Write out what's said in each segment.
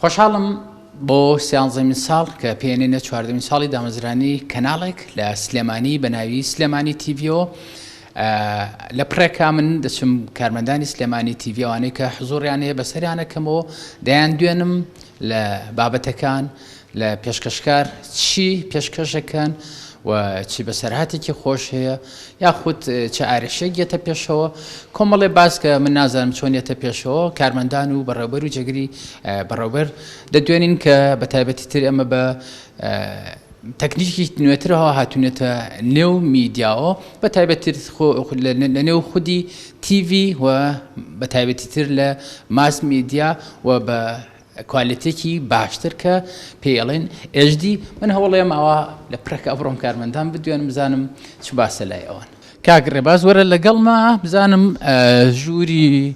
خۆشحاڵم بۆ سیانزەمی ساڵ کە پێێنە چواردەمی ساڵی دامەزرانی کەناڵێک لە سلێمانی بە ناوی سلێمانی تیڤۆ لە پڕێکا من دەچم کارمەندانی سلێمانی تیڤی ئەوانەی کە حزوڕیان هەیە بەسەریانەکەمەوە دەیان دوێنم لە بابەتەکان لە پێشکەشکار چی پێشکەشەکەن و چی بەسەرهاتێکی خۆش هەیە یاخود چ ئارشێک یەتە پێشەوە کۆمەڵێ باسکە من نازانم چۆن یەتە پێشەوە کارمەندان و بەڕێوبەر و جێگری بەڕێوبەر دەدوێنین کە بە تایبەتی تر ئەمە بە تەکنیکی نوێتر هاتوونەتە نێو میدیاوە بە تایبەتتر لە نێو خودی تیڤی و بە تایبەتی تر لە ماس میدیا و بە کوالێتێکی باشتر کە پێڵێن ئێژدی من هەوڵێم ئەوە لە پرەکە ئەبڕۆم کارمەندان بدوێنم بزانم چ باسە لای ئەوان کاک ڕێباز وەرە لەگەڵمە بزانم ژووری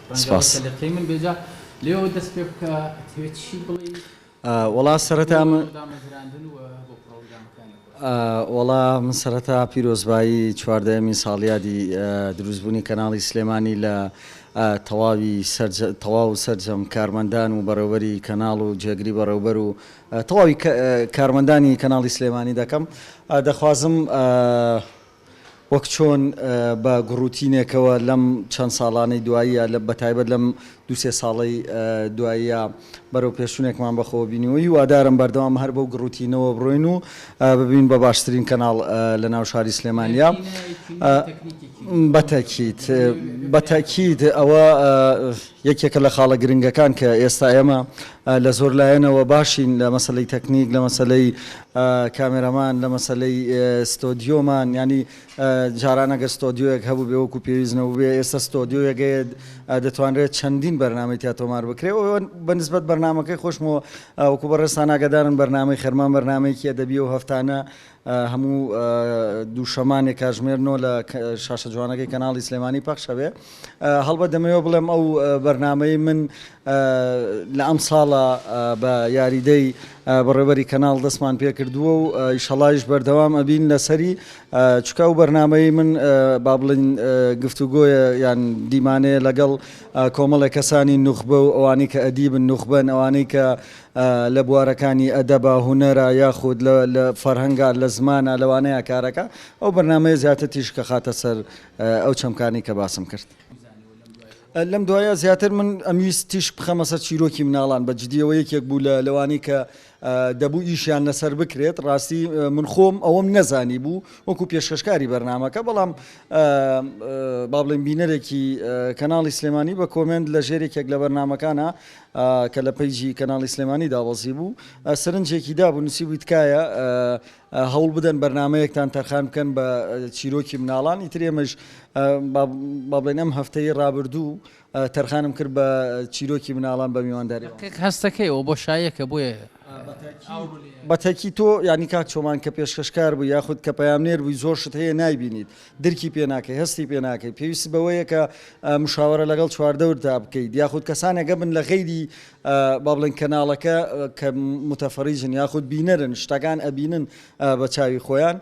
سپاس. وەڵا سەرەتا من وەڵا من سەرەتا پیرۆزبایی چواردەیەمین ساڵیادی دروست بوونی کەناڵی سلێمانی لە تەواوی تەواو و سەرجەم کارمەندان و بەڕێوەبەری کەناڵ و جێگری بەڕێوبەر و تەواوی کارمەندانی کەناڵی سلێمانی دەکەم دەخوازم وەک چۆن بە گوڕوتینێکەوە لەم چەند ساڵانەی دواییە، بە تایبەت لەم دوو سێ ساڵەی دواییە بەرەوپێشچونێکمان بەخۆوە بینیوە، هیوادارم بەردەوام هەر بەو گوڕوتینەوە بڕۆین و ببین بە باشترین کەناڵ لە ناو شاری سلێمانیا. بە تەکیت. بە تەکیت. بە تەکیت. ئەوە. یەکێکە لە خاڵە گرنگەکان کە ئێستا ئێمە لە زۆر لایەنەوە باشین لە مەسەلەی تەکنیک لە مەسەلەی کامێرەمان لە مەسەلەی ستۆدیۆمان یانی جاران ئەگەر ستۆدیۆیەک هەبووبێ وەکو پێویست نەبووبێ ئێستا ستۆدیۆیەک هەیە دەتوانرێت چەندین بەرنامەی تیا تۆمار بکرێ و بە نسبەت بەرنمەکەی خۆشمەوە وەکو بەڕێزتان ئاگادارن بەرنامەی خەرمان بەرنمەیەکی ئەدەبیە و هەفتانە هەموو دوو شەمانێ کاژمێر نۆ لە شاشە جوانەکەی کەناڵی سلێمانی پەخش ئەبێ هەڵبەت دەمەوێ بڵێم ئەو بەرنمەی من لە ئەم ساڵە بە یاریدەی بەڕێوەری کەناڵ دەستمان پێ کردووە و ئیشەڵایش بەردەوام ئەبین لەسەری چکە و بەرنمەی من با بڵین گفتوگۆیە یان دیمانەیە لەگەڵ کۆمەڵێک کەسانی نوخبە و ئەوانەی کە ئەدیبن نوخبەن ئەوانەی کە لە بوارەکانی ئەدەبە، هونەرە یاخود لە لە فەرهەنگە، لە زمانە لەوانەیە کارەکە ئەو بەرنامەیە زیاتر تیشکە خاتە سەر ئەو چەمکانەی کە باسم کرد. لەم دوایە زیاتر من ئەمویست تیشک بخەمە سەر چیرۆکی مناڵان بە جدی ئەوە یەکێک بوو لە لەوانەی کە دەبوو ئیشیان لەسەر بکرێت ڕاستی من خۆم ئەوەم نەزانی بوو وەکو پێشکەشکاری بەرنامەکە بەڵام با بڵێین بینەرێکی کەناڵی سلێمانی بە کۆمێنت لە ژێر یەکێک لە بەرنامەکانە کە لە پەیجی کەناڵی سلێمانی دابەزی بوو سەرنجێکی دابوو نووسیبووی تکایە هەوڵ بدەن بەرنمەیەکتان تەرخان بکەن بە چیرۆکی مناڵان ئیتر ئێمەش بابلێن ئەم هەفتەی ڕابردوو تەرخانم کرد بە چیرۆکی مناڵان بە میوانداری هەستەکەیەوە بۆ شایەکە بۆیە بەتەکی تۆ ینی کاک چۆمان کە پێشکەشکار بوو یاخود کە پەیامنێر بووی زۆر شت هەیە نایبینیت درکی پێ ناکەی، هەستی پێ ناکەی، پێویستت بەوەیە کە مشاوەرە لەگەڵ چواردەورتا بکەیت، یاخود کەسانێک هەبن لە غەیری با بڵێن کەناڵەکە کە متفرجن یاخود بینەرن شتەکان ئەبینن بە چاوی خۆیان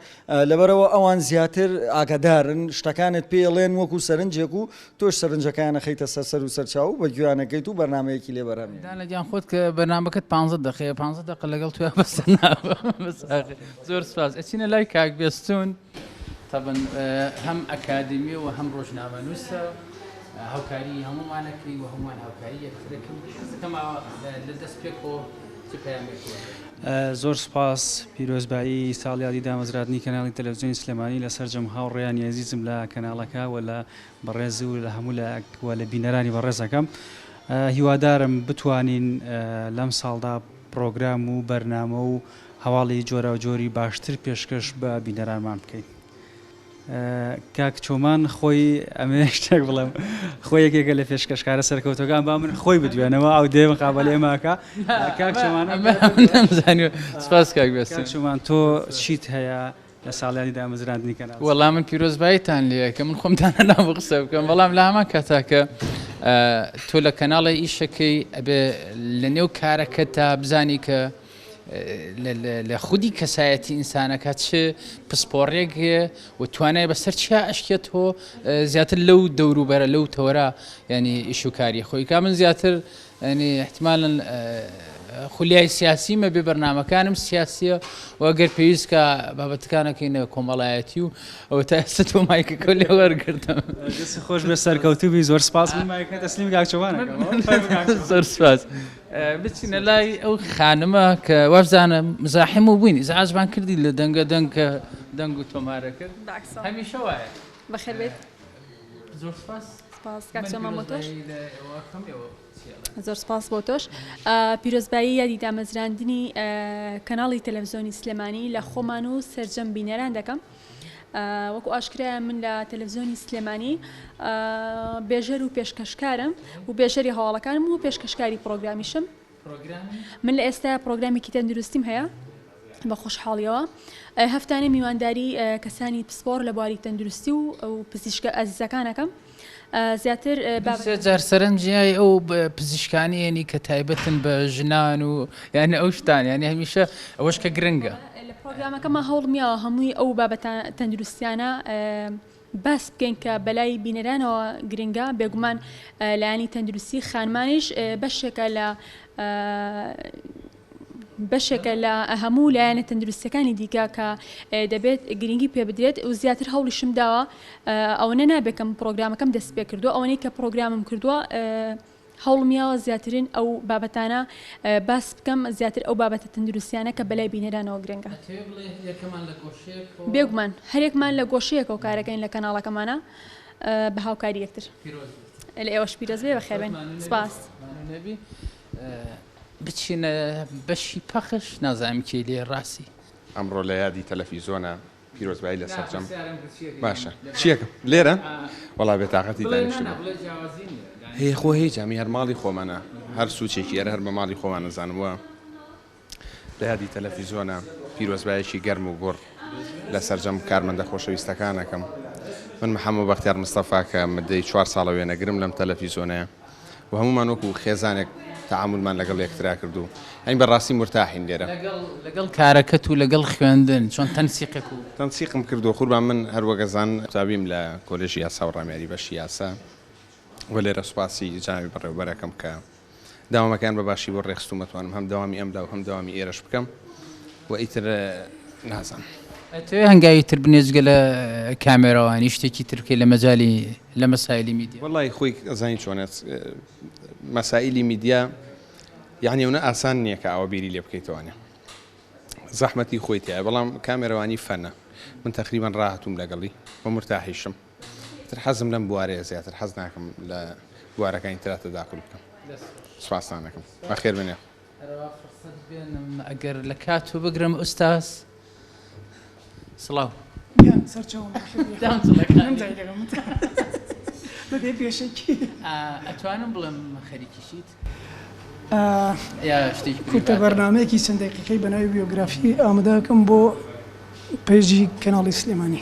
لەبەرئەوە ئەوان زیاتر ئاگادارن شتەکانت پێ ئەڵێن وەکو سەرنجێک و تۆش سەرنجەکانیان ئەخەیتە سەر سەر و سەرچاو و بە گوێیانەکەیت و بەرنامەیەکی لێ بەرهەم دانە گیان خۆت کە بەرنامەکەت 15 دقەیە 15 دقە لەگەڵ توێ بەسەر زۆر سپاس ئەچینە لای کاک بێستون تەبەن هەم ئەکادیمیە و هەم ڕۆژنامەنووسە، هاوکاریی هەموومانە کەی و هەموومان هاوکاریی یەکترە کەین. حەز ئەکەم ئاوا لە دەست پێکەوە چ پەیامێک بەرێت. زۆر سوپاس، پیرۆزبایی ساڵیادی دامەزرادنی کەناڵی تەلەفزیۆنی سلێمانی لە سەرجەم هاوڕێیانی ئەزیزم لە کەناڵەکە و لە بەڕێز و لە هەموو لایەک و لە بینەرانی بەڕێز ئەکەم. هیوادارم بتوانین لەم ساڵدا پڕۆگرام و بەرنامە و هەواڵی جۆراوجۆری باشتر پێشکەش بە بینەرانمان بکەین. کاک چۆمان خۆی ئەمێ شتێک بڵێم خۆ یەکێکە لە پێشکەشکارە سەرکەوتەکان با من خۆی بدوێنەوە ئەو دێ مقابلەیە ماکە کاک چۆمان ئەمێ نەمزانی سپاس کاک بێست. کاک چۆمان تۆ چیت هەیە لە ساڵیادی دامەزراندنی کەناڵ؟ وەڵا من پیرۆزباییتان لێ ئەکەم، من خۆم دانەنام بۆ قسە بکەم، بەڵام لە هەمان کاتا کە تۆ لە کەناڵێ ئیشەکەی ئەبێ لەنێو کارەکەتدا بزانی کە لە خودی کەسایەتی ئینسانەکە چ پسپۆڕێک و توانای بەسەر چیا ئەشکێت تۆ زیاتر لەو دەوروبەرە لەو تەوەرە ینی ئیشوکاری خۆی کا من زیاتر ینی احتمالن خولیای سیاسی مە بێ بەرنمەکانم سیاسیە وەگەر پێویستکە بابەتەکانەکەینە کۆمەڵایەتی و ئەو تا ئێستا تۆ مایکەکە لێ وەرگرتم خۆش بێ سەرکەوتوبی زۆر سپاس دەسلیم گاچوان زۆر سپاس. بچینە لای ئەو خانمە کە وابزانم مزاحم و بووین ئیزعاجمان کردی لە دەنگە دەنگ کە دەنگ و تۆمارە کرد بالعکس والله. هەمیشە وایە بەخێر بێیت زۆر سوپاس سپاس کاک من سۆما بۆ تۆش پیرۆزبایی لە ئێوە کەم ئێوە چییە؟ زۆر سپاس بۆ تۆش ئا، پیرۆزبایی یادی دامەزراندنی ئا، کەناڵی تەلەڤزیۆنی سلێمانی لە خۆمان و سەرجەم بینەران دەکەم. وەکو ئاشکرایە من لە تەلەڤزیۆنی سلێمانی بێژەر و پێشکەشکارم و بێژەری هەواڵەکانم و پێشکەشکاری پرۆگرامیشم من لە ئێستا پرۆگرامێکی تەندروستیم هەیە بە خۆشحاڵیەوە هەفتانە میوانداری کەسانی پسپۆر لە بواری تەندروستی و پزیشکە ئەزیزەکانەکەم زیاتر بابەتەکان. دوو سێ جار سەرنجی ئەو پزیشکانە یەنی کە تایبەتن بە ژنان و یانی ئەو شتان یانی هەمیشە ئەوەش کە گرنگە. لە پرۆگرامەکەمان هەوڵمیا هەمووی ئەو بابەتە تەندروستیانە باس بکەین کە بەلای بینەرانەوە گرنگە بێگومان لایەنی تەندروستی خانمانیش بەشێکە لە بەشێکە لە هەموو لایەنە تەندروستیەکانی دیکە کە دەبێت گرنگی پێ بدرێت و زیاتر هەوڵیشم داوە ئەوەنە نابێکم پرۆگرامەکەم دەست پێ کردو ئەوەی کە پرۆگرامم کردووە هەوڵمیاوە زیاترین ئەو بابەتانە باس بکەم زیاتر ئەو بابەتە تەندروستیانە کە بەلای بینەرانەوە گرنگە بێگومان هەرێکمان لە گۆشەیەکەوە کارەکەین لە کەناڵەکەمانە بە هاوکاری یەکتر لە ئێوەش پیرۆزبێ بە خێبێن سپاس. بچینە بەشی پەخش نازانم کێی لێیە ڕاستی. ئەمڕۆ لە یادی تەلەفیزۆنە پیرۆزبایی لە سەرجەم باشە چیەکم لێرە وەڵا بێ تاقەتی دانیشتبوو هەیە خۆ هیچ ئەمی هەر ماڵی خۆمانە هەر سوچێکی ئەرە هەر بە ماڵی خۆمان نەزانم وە لە یادی تەلەفیزۆنە پیرۆزبایەکی گەرم و گوڕ لە سەرجەم کارمەندە خۆشەویستەکانەکەم من محەممەد بەختیار مستەفا کە مدەی چوار ساڵە وێنەگرم لەم تەلەفیزۆنەیە و هەموومان وەکو خێزانێک تەعامولمان لەگەڵ یەکترا کرد و ئەین بە ڕاستی مورتاحین لێرە. لەگەڵ کارەکەت و لەگەڵ خوێندن چۆن تەنسیقێک و. تەنسیقم کردووە قوربان من هەر وەک ئەزان قوتابیم لە کۆلێژی یاسا و ڕامیاری بەشی یاسا و لێرە سوپاسی جەنابی بەڕێوەبەر ئەکەم کە دەوامەکەیان بە باشی بۆ ڕێخستوومە توانم هەم دەوامی ئەمدا و هەم دەوامی ئێرەش بکەم و ئیتر نازانم. ئەتەوێ هەنگاوی تر بنێ جگە لە کامێراوانی شتێکی تر بکەی لە مەجالی. لە مەسایلی میدیا. وەڵای خۆی ئەزانی چۆنە مەسایلی میدیا یەعنی ئەونە ئاسان نییە کە ئاوا بیری لێ بکەیتەوانە زەحمەتی خۆی تایە بەڵام کامێرەوانی فەنە من تەقریبان ڕاهتوم لەگەڵی بە مرتاحیشم تر حەزم لەم بوارەیە زیاتر حەز ناکەم لە بوارەکانی تراتە داخل بکەم سوپاستان دەکەم بەخێر بێنێ. هەرەوا فرسەت بێنم ئەگەر لە کاتو بگرم ئوستاز سڵاو. گیان سەرچاوم باشە بەبێ پێشەکی ئەتوانم بڵێم خەریکی چیت؟ کورتە بەرنامەیەکی چەند دەقیقەی بە ناوی بیۆگرافی ئامادە ئەکەم بۆ پەیجی کەناڵی سلێمانی.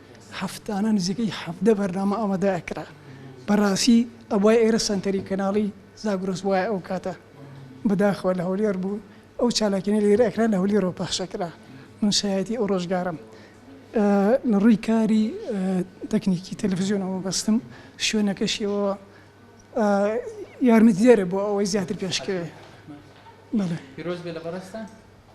هەفتانە نزیکەی حەڤدە بەرنامە ئامادە ئەکرا بەڕاستی ئەبوایە ئێرە سەنتەری کەناڵی زاگرۆس بوایە ئەو کاتە بەداخەوە لە هەولێر بوو ئەو چالاکیانەی لێرە ئەکرا لە هەولیرەوە پەخش ئەکرا من شایەتی ئەو ڕۆژگارەم لە ڕووی کاری تەکنیکی تەلەفزیۆنەوە بەستم شوێنەکەشیەوە یارمەتیدەرە بۆ ئەوەی زیاتر پێشکەوێ بەڵێ پیرۆز بێ لە بەڕێزتان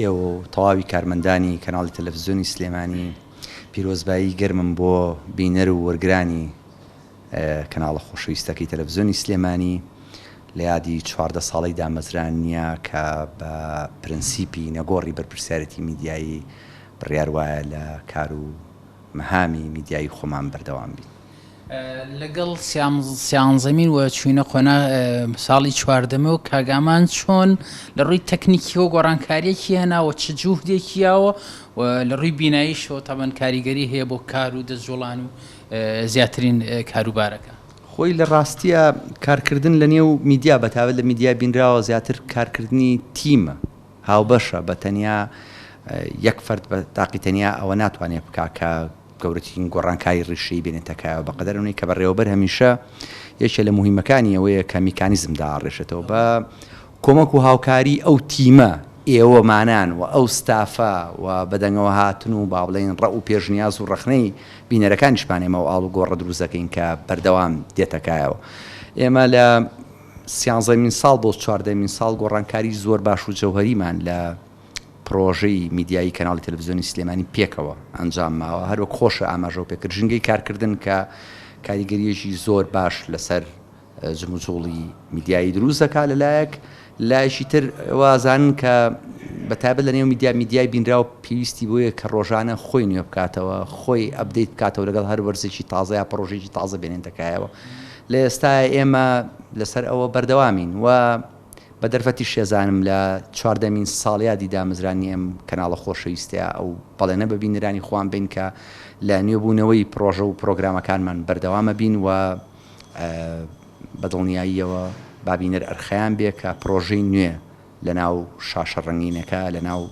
ئێوە و تەواوی کارمەندانی کەناڵی تەلەفزیۆنی سلێمانی پیرۆزبایی گەرمم بۆ بینەر و وەرگرانی کەناڵە خۆشەویستەکەی تەلەفزیۆنی سلێمانی لە یادی چواردە ساڵەی دامەزراننیە کە بە پرەنسیپی نەگۆڕی بەرپرسیارێتی میدیایی بڕیار وایە لە کار و مهامی میدیایی خۆمان بەردەوام بین. لەگەڵ سیانزەمین و چووینە قۆناغ ساڵی چواردەمەوە کاک ئامان چۆن لە ڕووی تەکنیکیەوە گۆڕانکاریەکی هێناوە چ جوهدێکی یاوە و لە ڕووی بیناییشەوە تەبەن کاریگەری هەیە بۆ کار و دەستجوڵان و زیاترین کاروبارەکە خۆی لە ڕاستیە کارکردن لە نێو میدیا بەتاێت لە میدیای بینراوە زیاتر کارکردنی تیمە. هاوبەشە بە تەنیا یەک فەرد بە تاقی تەنیا ئەوە ناتوانێت بکا کە گەورەترین گۆڕانکاری ڕیشەی بێنێتە کایەوە بەقەدەر ئەونەی کە بەڕێوەبەر هەمیشە یەکێ لە موهیمەکانی ئەوەیە کە میکانیزم داڕێشێتەوە بە کۆمەک و هاوکاری ئەو تیمە ئێوەمانان و ئەو ستافە و بەدەنگەوە هاتن و با بڵێین ڕەء و پێشنیاز و ڕەخنەی بینەرەکانیشمان ئێمە ئەو ئاڵوگۆڕە دروست دەکەین کە بەردەوام دێتە کایەوە ئێمە لە سیانزەمین ساڵ بۆ چواردەمین ساڵ گۆڕانکاری زۆر باش و جەوهەریمان لە پرۆژەی میدیایی کەناڵی تەلەفزیۆنی سلێمانی پێکەوە ئەنجام ماوە هەروەک خۆشە ئاماژەو پێکرد ژینگەی کارکردن کە کاریگەریەکی زۆر باش لەسەر جموجوڵی میدیایی دروست دەکات لەلایەک لایشی تر وازانن کە بە تایبەت لە نێو میدیا میدیای بینراو پێویستی بۆیە کە ڕۆژانە خۆی نوێ بکاتەوە خۆی ئەبدەیت بکاتەوە لەگەڵ هەر وەرزێکی تازە یا پرۆژێکی تازە بێنێن دەکایەوە لە ئێستایا ئێمە لەسەر ئەوە بەردەوامین و بە دەرفەتی شێزانم لە چواردەمین ساڵیادی دامەزرانی ئەم کەناڵە خۆشەویستەیا ئەو بەڵێنە بە بینەرانی خۆمان بەین کە لە نوێبوونەوەی پڕۆژە و پڕۆگرامەکانمان بەردەوام ئەبین و بە دڵنیاییەوە با بینەر ئەرخەیان بێ کە پڕۆژەی نوێ لەناو شاشە ڕەنگینەکە لەناو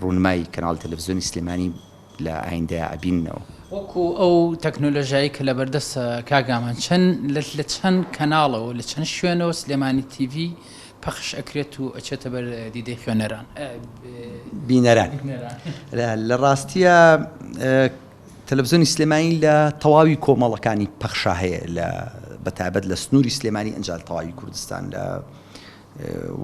ڕوونمای کەناڵی تەلەفزیۆنی سلێمانی لە ئایندەیا ئەبیننەوە. وەکو ئەو تەکنۆلۆژیایەی کە لەبەردەست کاک گامان چەن لە چەن کەناڵەوە لە چەن شوێنەوە سلێمانی تیڤی پەخش ئەکرێت و ئەچێتە بەر دیدەی خوێنەران بینەران لە ڕاستیە تەلەڤزۆنی سلێمانی لە تەواوی کۆمەڵەکانی پەخشا هەیە لە بەتابەت لە سنووری سلێمانی ئەنجال تەواوی کوردستان لە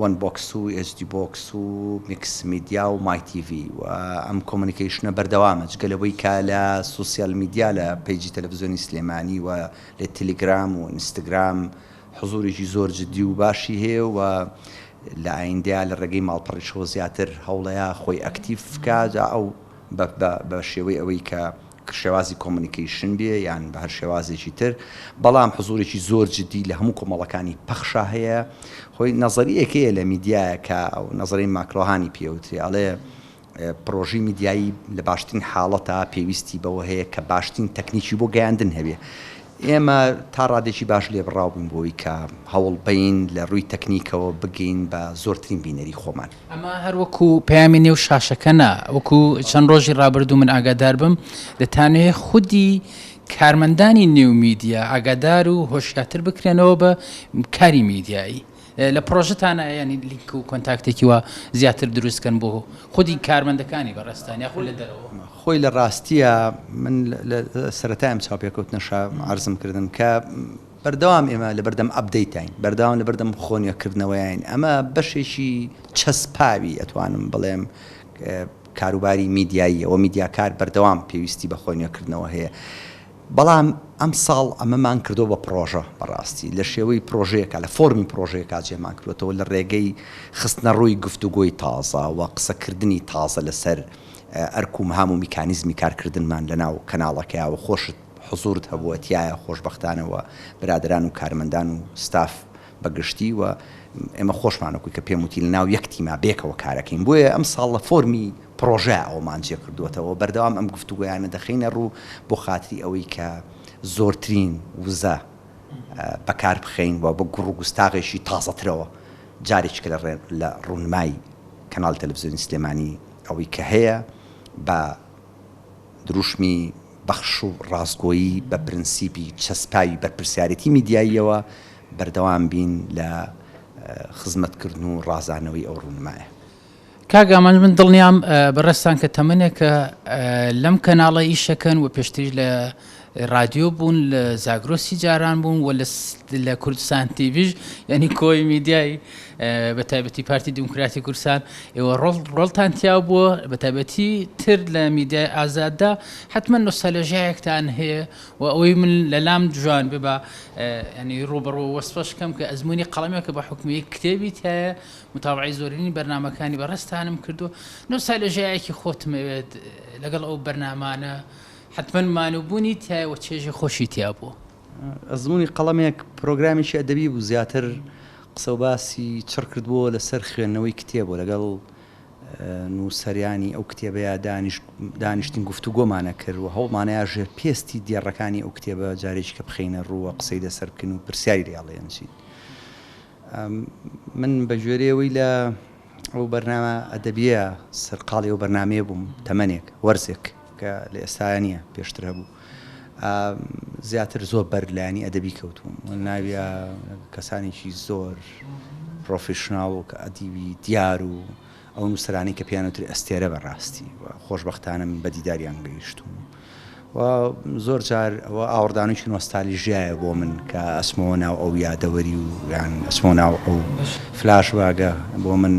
وەن بۆکس و ئێچ دی بۆکس و میکس میدیا و مای تی ڤی و ئەم کۆمۆنیکەیشنە بەردەوامە جگە لەوەی کە لە سۆسیال میدیا لە پەیجی تەلەفزیۆنی سلێمانی و لە تیلیگرام و ئینستگرام حزورێکی زۆر جدی و باشی هەیە و لە ئایندەیا لە ڕێگەی ماڵپەڕیشەوە زیاتر هەوڵەیا خۆی ئەکتیڤ بکا جا ئەو بە شێوەی ئەوەی کە شێوازی کۆمونیکەیشن بێ یان بە هەر شێوازێکی تر، بەڵام حزوورێکی زۆر جددی لە هەموو کۆمەڵەکانی پەخشا هەیە. هۆی نەزەرییەک هەیە لە میدیایە کە نەزەریی ماکلۆهانی پێ وترێ، ئەڵێ پڕۆژەی میدیایی لە باشترین حاڵەتا پێویستی بەوە هەیە کە باشترین تەکنیکی بۆ گەیاندن هەبێ. ئێمە تا ڕادێکی باش لێبڕاو بووین بۆ ئەوەی کە هەوڵ بەین لە ڕووی تەکنیکەوە بگەین بە زۆرترین بینەری خۆمان. ئەمە هەر وەکو پەیامی نێو شاشەکە نا وەکو چەند ڕۆژی ڕابردوو من ئاگادار بم دەتانوێ خودی کارمەندانی نێو میدیا ئاگادار و هۆشیاتر بکرێنەوە بە کاری میدیایی لە پرۆژتانە ینی لینک و کۆنتاکتێکی وە زیاتر دروستکەن بۆ خودی کارمەندەکانی بەڕێستانیا خۆ لە دەرەوە خۆی لە ڕاستیە من سەتایم چاوپێکەوتنە شارزم کردن کە بەردەوام ئێمە لەبەردەم ئەپدەیتاین، بەردەوام لەبەردەم خۆ نوێکردنەوەیاین، ئەمە بەشێکی چەسپاوی ئەتوانم بڵێم کاروباری میدیاییە و میدیاکار بەردەوام پێویستی بە خۆ نوێکردنەوە هەیە، بەڵام ئەمساڵ ئەمەمان کردووە بە پڕۆژە بەڕاستی لە شێوەی پڕۆژەیەکا لە فۆرمی پڕۆژەیەکا جێمان کردووەتەوە لە ڕێگەی خستنەڕووی گفتوگۆی تازە و قسەکردنی تازە لەسەر ئەرک و مهام و میکانیزمی کارکردنمان لەناو کەناڵەکەیا و خۆشت حزورت هەبووە تیایا خۆشبەختانە وە برادەران و کارمەندان و ستاف بە گشتی وە ئێمە خۆشمان وەکوی کە پێم وتی لەناو یەک تیما بێکەوە کارەکەین بۆیە ئەم ساڵ لە فۆرمی پرۆژە ئەوەمان جێ کردووەتەوە بەردەوام ئەم گفتوگۆیانە دەخەینە ڕوو بۆ خاتری ئەوەی کە زۆرترین وزە بەکار بخەین وە بە گوڕ و گوستاغێکی تازەترەوە جارێککە لە ڕێ لە ڕوونمای کەناڵی تەلەفزیۆنی سلێمانی ئەوەی کە هەیە بە دروشمی بەخش و ڕاستگۆیی بە پرنسیپی چەسپاوی بەرپرسیارێتی میدیاییەوە، بەردەوام بین لە خزمەتکردن و ڕازانەوەی ئەو ڕوونمایە. کاک ئامانج من دڵنیام بەڕێزتان کە تەمەنێکە لەم کەناڵە ئیش ئەکەن و پێشتریش لە ڕادیۆ بوون لە زاگرۆسی جاران بوون و لە کوردستان تیڤیش یعنی کۆی میدیای بە تایبەتی پارتی دیموکراتی کوردستان ئێوە ڕۆڵ ڕۆڵتان تیا بووە بە تایبەتی تر لە میدیای ئازاددا حتمما نوستالژیایەکتان هەیە و ئەوەی من لەلام جوان بێ بە ینی ڕوبڕۆ وەسفەش کەم کە ئەزمموی قەڵمێکە بە حکومی کتێبی تایە متاوعی زۆرینی بەرنمەکانی بەڕستانم کردو نوستالژیایەکی خۆتمەوێت لەگەڵ ئەو بەرنمانە حەتمەن مانووبوونی تیایە و چێژی خۆشی تیا بووە. ئەزموونی قەڵەمێک پرۆگرامێکی ئەدەبی بوو زیاتر قسە و باسی چڕ کردبووەوە لەسەر خوێندنەوەی کتێب و لەگەڵ نووسەرانی ئەو کتێبەیا دانیشتین گفتوگۆمان ئەکرد و هەوڵمانەیا ژێر پێستی دێڕەکانی ئەو کتێبە جارێکیکە بخەینە ڕوو و قسەی لەسەر بکەین و پرسیاری لێ هەڵێنجین. من بە گوێرەی ئەوەی لە ئەو بەرنامە ئەدەبییە سەرقاڵی ئەو بەرنامەیە بووم تەمەنێک، وەرزێک، کە لە ئێستایا نییە پێشتر هەبوو زیاتر زۆر بەر لایەنی ئەدەبی کەوتووم و ناویا کەسانێکی زۆر پرۆفیشناڵ و کە ئەدیبی دیار و ئەو نووسرانی کە پێیانوتری ئەستێرە بەڕاستی و خۆشببختانە من بە دیداریان گەیشتوم و زۆر جار ئەوە ئاوردانێکی نۆستالیژایە بۆ من کە ئەسمەوە ناو ئەو یادەوەری و یان ئەسمۆ ناو ئەو فلاش واگە بۆ من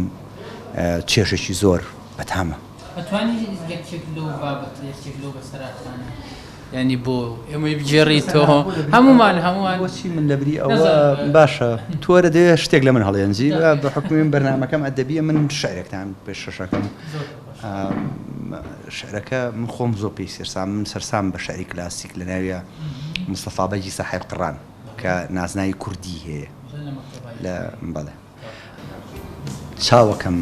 چێشێکی زۆر بەتامە ئەتوانی لەکچێک لەو بابەت لەچێک لەو بەسەراتانە یانی بۆ ئێمەی بگێڕی تۆ هەمومان هەمووان بۆچی من لەبری ئەوە باشە تۆرە دێ شتێک لە من هەڵێنجی بە حکومیم بەرنمەکەم ئەدەبیە من شارێکتان پێ شەشەکەم شعرەکە من خۆم زۆر پێی سەرسام من سەرسام بە شعری کلاسیک لە ناویە مستەفاابەجی ساحب قڕان کە نازناوی کوردی هەیە لە بەڵێ چاوەکەم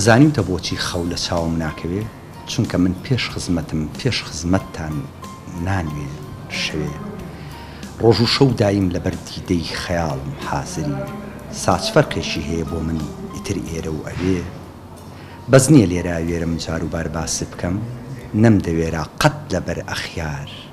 زانیوتە بۆچی خەو لە چاوم ناکەوێ چونکە من پێش خزمەتم پێش خزمەتتان نانوێ شەوێ ڕۆژ و شەو دایم لەبەر دیدەی خەیاڵم حازری ساچ فەرقێکی هەیە بۆ من ئیتر ئێرە و ئەوێ بەس نیە لێرە ئەوێرم جاروبار باسی بکەم نەمدەوێرا قەت لەبەر ئەخیار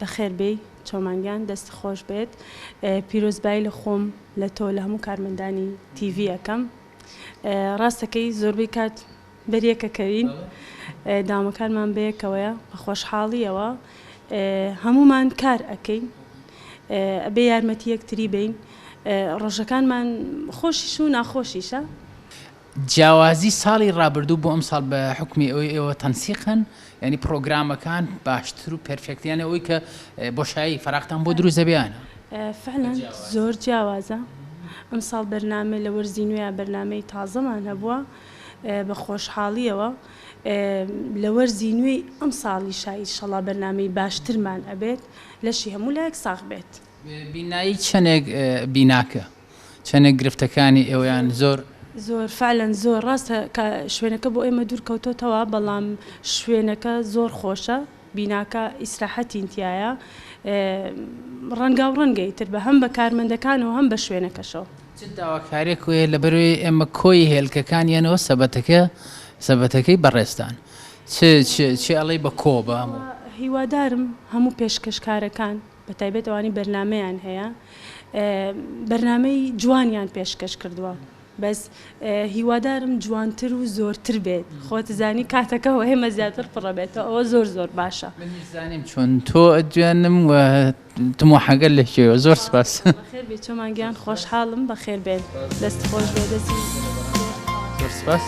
بەخێر بێی چۆمان گیان دەست خۆش بێت پیرۆزبایی لە خۆم لە تۆ لە هەموو کارمەندانی تیڤی ئەکەم ڕاستەکەی زۆربەی کات بەریەکەکەوین دامەکانمان بەیەکەوەیە بە خۆشحاڵیەوە هەمومان کار ئەەکەین ئەبێ یارمەتی یەکتری بین ڕۆژەکانمان خۆشیش و ناخۆشیشە جیاوازی ساڵی ڕابردوو بۆ ئەمساڵ بە حوکمی ئەوەی ئێوە تەنسیقن یانی پڕۆگرامەکان باشتر و پێرفێکت یانە ئەوی کە بۆشایی فەراقتان بۆ دروست دەبیانە فعلەن زۆر جیاوازە ئەمساڵ بەرنامە لە وەرزی نوێ بەرنمەی تازەمان هەبووە بە خۆشحاڵیەوە لە وەرزی نوێی ئەم ساڵی شای شەڵا بەرنمەی باشترمان ئەبێت لەشی هەموو لایەک ساخ بێت. بینایی چەنێک بیناکە چەنێک گرفتەکانی ئێوەیان زۆر. زۆر فعلەن زۆر ڕاستە کە شوێنەکە بۆ ئێمە دوور کەوتۆتەوە بەڵام شوێنەکە زۆر خۆشە بیناکە ئیسراحەتین تیایە ڕەنگاو ڕەنگە ئیتر بە هەم بە کارمەندەکانەوە هەم بە شوێنەکەشەوە. چ داواکاریەک وەیە لەبەروەی ئێمە کۆی هێلکەکان یەنەوە سەبەتەکە سەبەتەکەی بەڕێزتان چ چ چ ئەڵێی بە کۆ بە هەموو. هیوادارم هەموو پێشکەشکارەکان. بەتایبەت ئەوانەی بەرنامەیان هەیە بەرنامەی جوانیان پێشکەش کردووە بەس هیوادارم جوانتر و زۆرتر بێت خۆتزانی کاتەکە و هێمە زیاتر پڕەبێتەوە ئەوە زۆر زۆر باشە زانیم چۆن تۆ ئەجوێنم و تمۆحەگەل لەکێوە زۆر سپاس. خێر بێی چۆمان گیان خۆشحالم بەخێر بێن دەست خۆش بێ دەسی زۆر سپاس. زۆر سپاس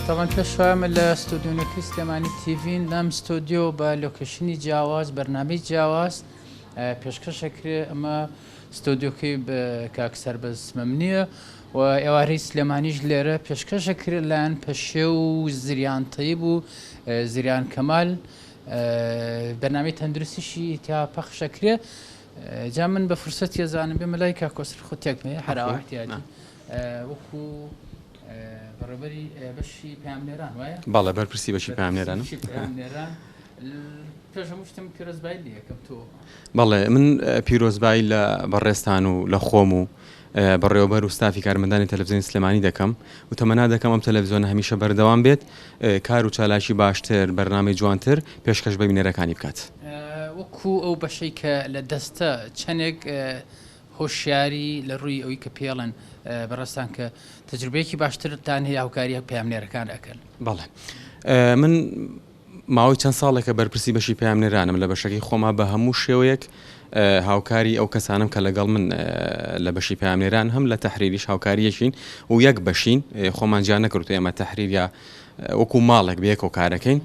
تابان پێش وایە من لە ستۆدیۆ نۆکەی سلێمانی تیڤین لەم ستۆدیۆ بە لۆکەیشنی جیاواز بەرنامەی جیاواز پێشکەش ئەکرێ ئەمە ستۆدیۆکەی کاک سەربەز مەمنیە و ئێوارەی سلێمانیش لێرە پێشکەش ئەکرێ لایەن پەشێ و زریان تەیب و زریان کەمال بەرنامەی تەندروستیشی تا پەخش ئەکرێ جا من بە فرسەتی ئەزانم بێمە لای کاک کۆسرەت خۆ تێک نەیە هەر ئاوا ئەحتیاجی وەکو بەڕێبەری بەشی پامنێران وایە بەڵێ بەرپرسی بەشی پامنێران پێش هەموو شتم پیرۆزبایی لە یەکەم تۆ بەڵێ من پیرۆزبایی لە بەڕێزتان و لە خۆم و بەڕێوەبەر و ستافی کارمەندانی تەلەفزیۆنی سلێمانی دەکەم و تەمەنا دەکەم ئەم تەلەفزیۆنە هەمیشە بەردەوام بێت کار و چالاکی باشتر بەرنامەی جوانتر پێشکەش بە بینەرەکانی بکات. وەکو ئەو بەشەی کە لە دەستە چەنێک هۆشیاری لە ڕووی ئەوی کە پێڵێن بەڕێزتان کە تەجروبەیەکی باشترتان هەیە هاوکاریە پەیامنێرەکان ئەکەن. بەڵێ من ماوەی چەند ساڵێکە بەرپرسی بەشی پەیامنێرانم لە بەشەکەی خۆما، بە هەموو شێوەیەک هاوکاری ئەو کەسانەم کە لەگەڵ من لە بەشی پەیامنێران هەم لە تەحریریش هاوکاری یەکین و یەک بەشین خۆمان جیا نەکردووە ئێمە تەحریر یا وەکو ماڵێک بەیەکەوە کارەکەین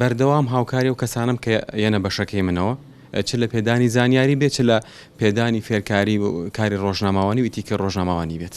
بەردەوام هاوکاری و کەسانم کە یەنە بەشەکەی منەوە چ لە پێدانی زانیاری بێت چ لە پێدانی فێرکاری و کاری ڕۆژنامەوانی و ئیتیکی ڕۆژنامەوانی بێت.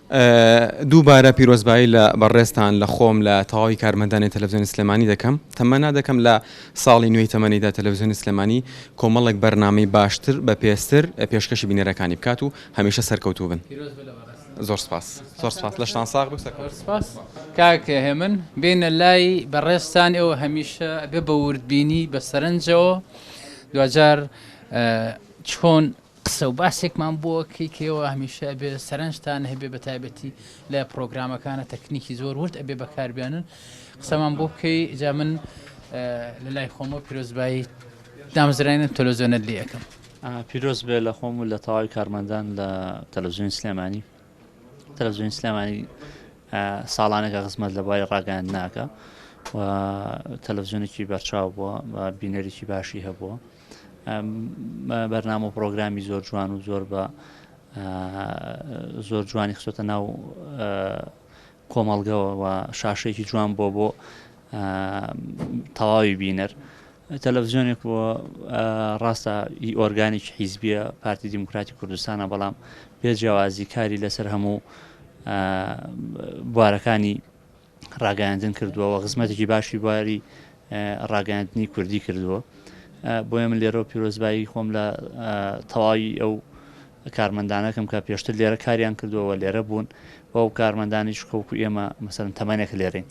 دووبارە پیرۆزبایی لە بەڕێزتان لە خۆم لە تەواوی کارمەندانی تەلەڤزیۆنی سلێمانی دەکەم، تەمەنا دەکەم لە ساڵی نوێی تەمەنیدا تەلەڤزیۆنی سلێمانی کۆمەڵێک بەرنامەی باشتر بەپێزتر پێشکەشی بینەرەکانی بکات و هەمیشە سەرکەوتوو بن. زۆر سپاس. زۆر سپاس. لەشتان ساغ بێ و سەرکەوتوو بن. زۆر سپاس کاک هێمن. بێینە لای بەڕێزتان ئێوە هەمیشە ئەبێ بە وردبینی بە سەرنجەوە دواجار چۆن قسە و باسێکمان بۆ کەی کەیەوە هەمیشە ئەبێ سەرنجتان هەبێ بە تایبەتی لە پرۆگرامەکانە تەکنیکی زۆر ورد ئەبێ بەکاربیانن قسەمان بۆ بکەی جا من لە لای خۆمە پیرۆزبایی دامزرانە تەلۆزیۆنە لێ ئەەکەم پیرۆز بێ لە خۆم و لە تەواوی کارمەندان لە تەلەزیۆنی سلێمانی تەلەزیۆنی سلێمانی ساڵانێکە خزمەت لە بای ڕاگەیان ناکە و تەلەزیۆنێکی بەرچاو بووە بە بینەرێکی باشی هەبووە بەرنامە و پرۆگرامی زۆر جوان و زۆر بە زۆر جوانی خسۆتە ناو کۆمەڵگەوە و شاشێکی جوان بۆ بۆ تەواوی بینەر تەلەڤزیۆنێک بۆ ڕاستە ئی ئۆرگانیک حیزبیە پارتی دیموکراتی کوردستانە بەڵام پێ جیاوازی کاری لەسەر هەموو بوارەکانی ڕاگەیاندن کردووە و خزمەتێکی باشی بواری ڕاگەاندنی کوردی کردووە بۆیە من لێرە پیرۆزبایی خۆم لە تەواوی ئەو کارمەندانەکەم کە پێشتر لێرە کاریان کردووەوە لێرە بوون بە و کارمەندانی شکۆک و ئێمە مەسەرن تەمانێک لێرین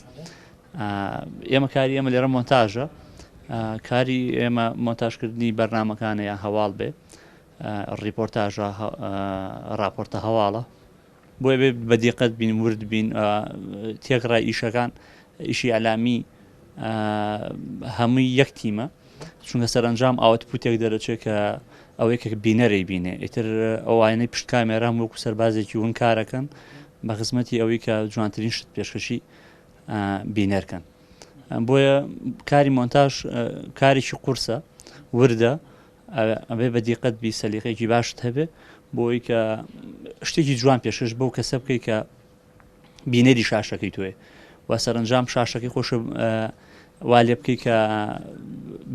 ئێمە کاری ئێمە لێرە مۆنتاژە کاری ئێمە مۆنتاژکردنی بەرنمەکانەیە هەواڵ بێ ڕیپۆرتاژە راپۆرتە هەواڵە بۆیە بێ بەدیقەت بین ورد بین تێکڕای ئیشەکان ئیشی ئەلامی هەمووی یەک تیمە چونکە سەرنجام ئاوت پوتێک دەرەچێت کە ئەوەی کە بینەری بینێ ئیتر ئەوانەی پشت کامێرام وەکو سەربازێکی ون کارەکەن بە خزمەتی ئەوەی کە جوانترین شت پێشکەشی بینەرکەن بۆیە کاری مۆنتاژ کارێکی قورسە وردە ئەبێ بە دیقەت بی سەلیقەیەکی باشت هەبێ بۆی کە شتێکی جوان پێشکەش بەو کەسە بکەیت کە بینەری شاشەکەی توێ و سەرنجام شاشەکەی خۆش وا لێ بکەیت کە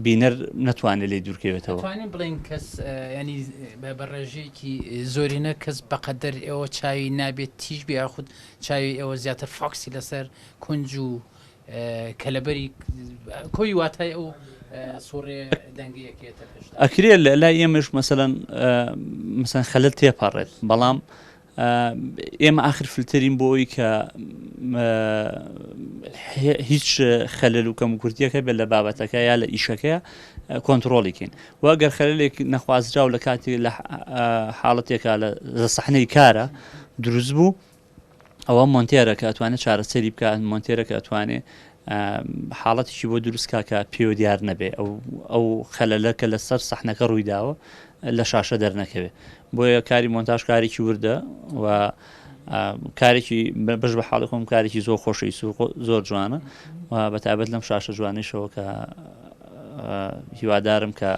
بینەر نتوانێت لی دوورکەوێتەوە بڵین کەس ینی بە بەڕێژەیەکی زۆرینە کەس بەقەدەر ئێوە چاوی نابێت تیژ بێ یاخود چاوی ئێوە زیاتر فاکسی لەسەر کونج و کەلەبەری کۆی واتای ئەو سوڕێ دەنگەیە کێتە پێشدا. ئەکرێ لە لای ئێمەش مەسەلەن مەسەن خەلەت تێپەڕێت بەڵام ئێمە ئاخر فلتەرین بۆ ئەوی کە هیچ خەلل و کەم کوردیەکە بێت لە بابەتەکە یا لە ئیشەکە کۆنتترۆڵیکەین واگەر خەلێک نەخوازراو لە کاتی لە حاڵەتێکا لە سەحنەی کارە دروست بوو ئەوە مۆنتێرە کە ئەتوانێت چارەسەری بکە مۆنتێرە کە ئەتوانێ حاڵەتیی بۆ دروستکە کە پێوە دیار نەبێ ئەو ئەو خەلەلە کە لەسەر سەحنەکە ڕوویداوە لە شاشە دەرنەکەوێت بۆیە کاری مۆنتاژ کارێکی وردە و کارێکی بەش بە حاڵی خۆم کارێکی زۆر خۆشی سوق زۆر جوانە و بەتابەت لەم شاشە جوانیشەوە کە هیوادارم کە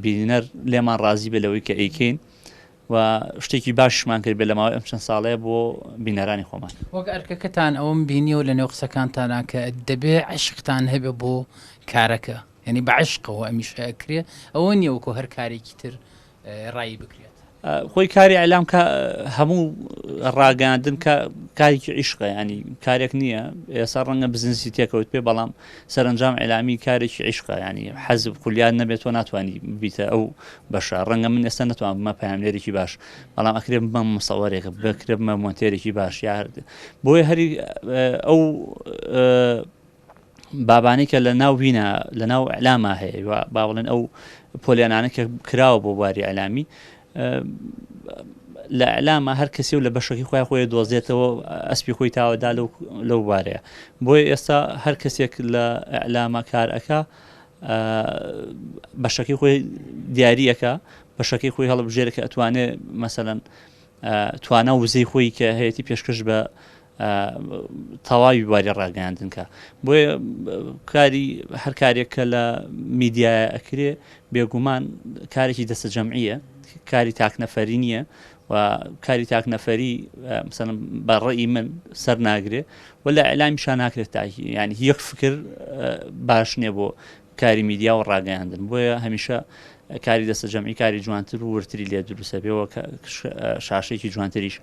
بینەر لێمان ڕازی بێ لەوەی کە ئەیکەین و شتێکی باشیشمان کردبێت لە ماوەی ئەم چەند ساڵەیە بۆ بینەرانی خۆمان. وەک ئەرکەکەتان ئەوەم بینیەوە لە نێو قسەکانتانا کە دەبێ عەشقتان هەبێ بۆ کارەکە یانی بە عەشقەوە ئەمیشە ئەکرێ ئەوە نیە وەکۆ هەر کارێکی تر ڕایی بکرێت. خۆی کاری ئەلام کە هەموو ڕاگەاندن کە کارێکی عیشقە ینی کارێک نییە ئێسا ڕەنگە بزنسی تێکەوت پێ بەڵام سەرەنجام ئیلامی کارێکی عیشقە یانی حەز خولیات نەبێت تۆ ناتوانانی ببیتە ئەو بەشە ڕەنگە من ئێستا نتوان بمە پامێرێکی باش بەڵام ئەکرێ بمە مسەوەرێک بکرێ بمە مۆنتێرێکی باش یارد بۆیە هەری ئەو بابانی کە لە ناو وینە لە ناو ئەلاما هەیە با بڵێن ئەو پۆلیانانە کە کراوە بۆ باری ئەلامی لە ئیلامە هەر کەسێ و لە بەشەکەی خۆیان خۆی دۆزێتەوە ئەسپی خۆی تاوەدا لەو لەو بارەیە بۆیە ئێستا هەر کەسێک لە ئیلامە کارەکە بەشەکەی خۆی دیارریەکە بەشەکەی خۆی هەڵبژێرە کە ئەتوانێ مەسەەن توانا وزەی خۆی کە هەیەی پێشکەش بە تەواوی بواری ڕاگەیاندن کە بۆیە کاری هەر کارێک کە لە میدیایە ئەکرێ بێگومان کارێکی دەستە جەمعیە کاری تاکنەفەری نییە و کاری تاکنەفەری مثلم بە ڕێی من سەر ناگرێ و لە ئەلامی شان ناکرێت تاکی ینی یەک فکر باش نییە بۆ کاری میدیا و ڕاگەیاندن بۆیە هەمیشە کاری دەستە جەمعی کاری جوانتر و ورتری لێ دروستە بێەوە شاشێکی جوانتریش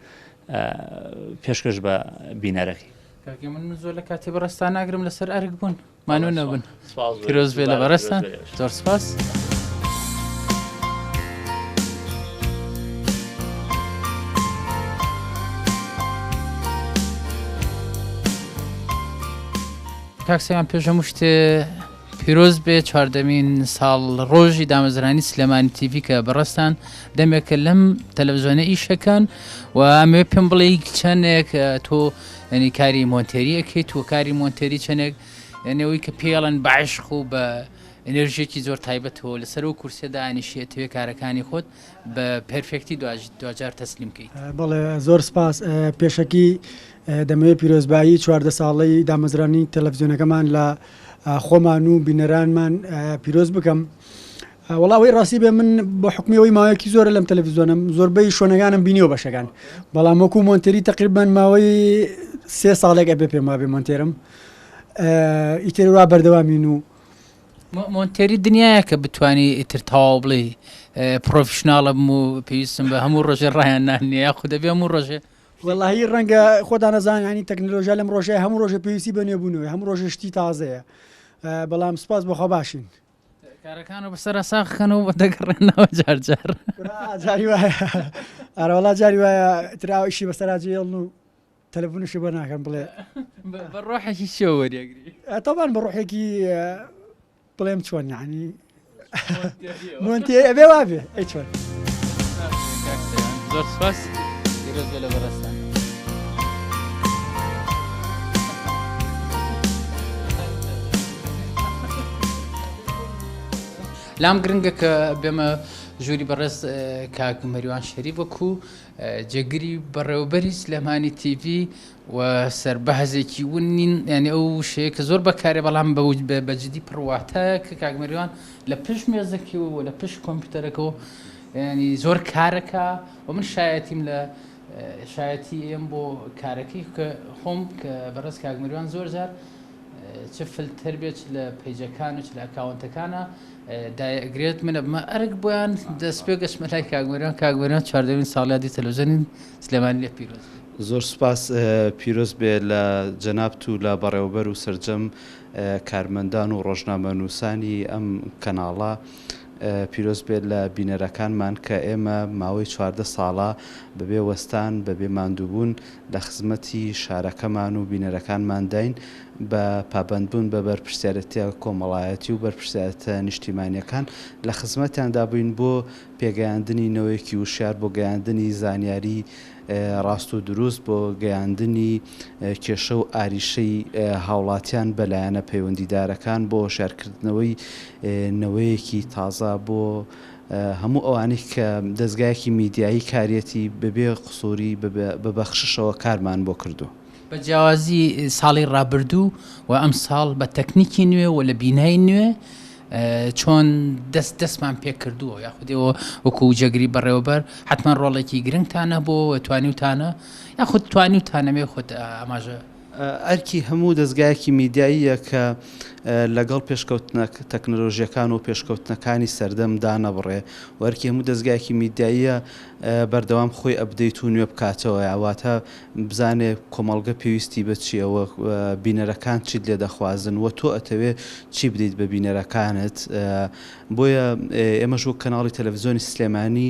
پێشکەش بە بینەرەکەی. کاکە من زۆر لە کاتی بەڕێزتان ناگرم لەسەر ئەرک بوون مانوو نەبن سپاس بۆ پیرۆز بێ لە سپاس بەڕێزتان بۆ ئێوەش. زۆر سپاس کاک سەیام پێش هەموو شتێ پیرۆز بێ چواردەمین ساڵ ڕۆژی دامەزرانی سلێمانی تیڤی کە بەڕستان دەمێکە لەم تەلەڤزیۆنە ئیشەکان و ئەمێ پێم بڵێ چەندێک تۆ ئەنی کاری مۆنتێریەکەیت و کاری مۆنتێری چەندێک ئەنەوەی کە پێڵەن باشق و بە ئەنرژێکی زۆر تایبەتەوە لەسەر و کورسێدا ئەنیشێتەوەی کارەکانی خۆت بە پرفێکتی دواجار تەسلیم بکەیت بڵێ زۆر سپاس پێشەکی دەمەوێت پیرۆزبایی چواردە ساڵەی دامەزرانی تەلەفزیۆنەکەمان لە خۆمان و بینەرانمان پیرۆز بکەم. وڵاوەی ڕاستی بێ من بە حکمیەوەی ماوەیەکی زۆر لەم تەلەڤزیۆنم زۆربەی شوێنەکانم بینیەوە بەشەکان بەڵام وەکو مۆنتری تقریبان ماوەی سێ ساڵێک ئەبێ پێم وابێ مۆنتێرم ئیتر وا بەردەوامین و مۆنتێری دنیاە کە بتانی ئیتر تاوا بڵێ پرۆفشنناڵم و پێویستم بە هەموو ڕۆژێ ڕایان نانیە یاخود دەبێ هەموو ڕۆژێ وەڵاهی ڕەنگە خۆدا نەزانانی تەکنەلۆژیا لەم ڕۆژای هەموو ڕۆژە پێویستی بە نوێبوونەوەی هەموو ڕۆژە شتی تازەیە بەڵام سپاس بەخوا باشین کارەکان و بەسەرا ساخکەن و بە دەگەڕێنەوە جارجار جاری وایە ئارەوەڵا جاری وایە تراوەشی بەسەراجێڵ و تەلەفونشی بۆ ناکەم بڵێ بە ڕۆحێکی شێوەریەگری ئەتەبان بە ڕۆحێکی بڵێم چۆن یعنی مۆنتێ ئەبێ وابێ ئەی چۆن زۆر سپاس ئێرۆزە لە بەڕێستان لام گرنگە کە بێمە ژووری بەڕێز کاک مەریوان شەری وەکو جێگری بەڕێوەبەریش لەمانی تیڤ و سەربەهزێکی ون نین یانی ئەو وشەیە کە زۆر بەکارێ بەڵام بە جدی پڕ واتایە کە کاک مەریوان لە پشت مێزەکەوە و لە پشت کۆمپیوتەرەکەەوە ینی زۆر کارەکە و من شایەتیم لە شایەتی ئێم بۆ کارەکەی کە خۆم کە بەڕێز کاک مەریوان زۆر جار چ فلتەر بێت لە پیجەکان و چ لە ئەکاونتەکانە دایگرێت منە بمە ئەرک بۆیان دەست پێ گەشتمە لای کاک مەریوان کاک مەریوان چواردەمین ساڵیادی تەلەڤزیۆنی سلێمانی لێت پیرۆز بێ. زۆر سوپاس پیرۆز بێ لە جەنابت و لە بەڕێوەبەر و سەرجەم کارمەندان و ڕۆژنامەنووسانی ئەم کەناڵە پیرۆز بێ لە بینەرەکانمان کە ئێمە ماوەی چواردە ساڵە بەبێ وەستان بەبێ ماندووبوون لە خزمەتی شارەکەمان و بینەرەکانمانداین بە پابەندبوون بە بەرپرسیارێتیە کۆمەڵایەتی و بەرپرسیارێتە نیشتیمانیەکان لە خزمەتیاندا بووین بۆ پێگەیاندنی نەوەیەکی وشیار بۆ گەیاندنی زانیاری ڕاست و دروست بۆ گەیاندنی کێشە و ئاریشەی هاوڵاتیان بە لایەنە پەیوەندیدارەکان بۆ هۆشارکردنەوەی نەوەیەکی تازە بۆ هەموو ئەوانەی کە دەزگایەکی میدیایی کاریەتی بەبێ قسووری بە بەخششەوە کارمان بۆ کردووە. بە جیاوازی ساڵی ڕابردوو و ئەمساڵ بە تەکنیکی نوێ و لە بینای نوێ چۆن دەست دەستمان پێکردووە یاخودەوە وەکو جێگری بەڕێوەبەر حتمما ڕۆڵێکی گرنگتانە بۆ توانیوتانە یاخود توانیوتانەمێ خۆت ئاماژە ئەرکی هەموو دەستگایەکی میدیاییە کە لەگەڵ پێشکەوتنە تەکنەلۆژیەکان و پێشکەوتنەکانی سەردەم دانەبڕێ وەرکی هەموو دەستگایەکی میدیاییە بەردەوام خۆی ئەبدەیت و نوێ بکاتەوە یاواتە بزانێ کۆمەڵگە پێویستی بە چیە و بینەرەکان چیت لێ دەخوازن و تۆ ئەتەوێ چی بدەیت بە بینەرەکانت بۆیە ئێمەش وەک کەناڵی تەلەفزیۆنی سلێمانی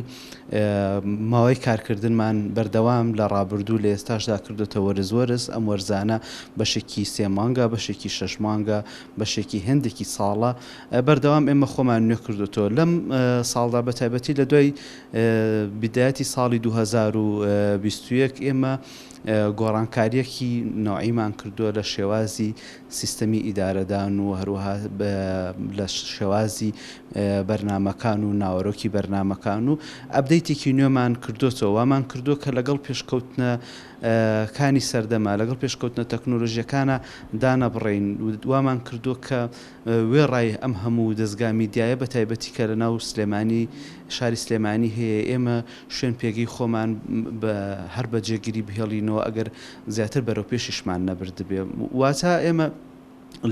ماوەی کارکردنمان بەردەوام لە ڕابردوو لە ئێستاشدا کردوتە وەرز وەرز ئەم وەرزانە بەشێکی سێ مانگە بەشێکی شەش مانگە بەشێکی هێندێکی ساڵە بەردەوام ئێمە خۆمان نوێ کردوتەوە لەم ساڵدا بە تایبەتی لە دوای بدایەتی ساڵی دوو هەزار و بیست و یەک ئێمە گۆڕانکاریەکی نەوعیمان کردووە لە شێوازی سیستەمی ئیدارەدان و هەروەها لە شێوازی بەرنمەکان و ناوەرۆکی بەرنمەکان و ئەبدەیتێکی نوێمان کردوەوە وامان کردووە کە لەگەڵ پێشکەوتنە کانی سەردەما لەگەڵ پێشکەوتنە تەکنۆلۆژیەکانە دانەبڕین وامان کردووە کە وێڕای ئەم هەموو دەزگا میدیایە بە تایبەتی کە لە ناو سلێمانی شاری سلێمانی هەیە ئێمە شوێن پێگەی خۆمان بە هەر بە جێگیری بهێڵینەوە ئەگەر زیاتر بەرەو پێشیشمان نەبردبێ واتا ئێمە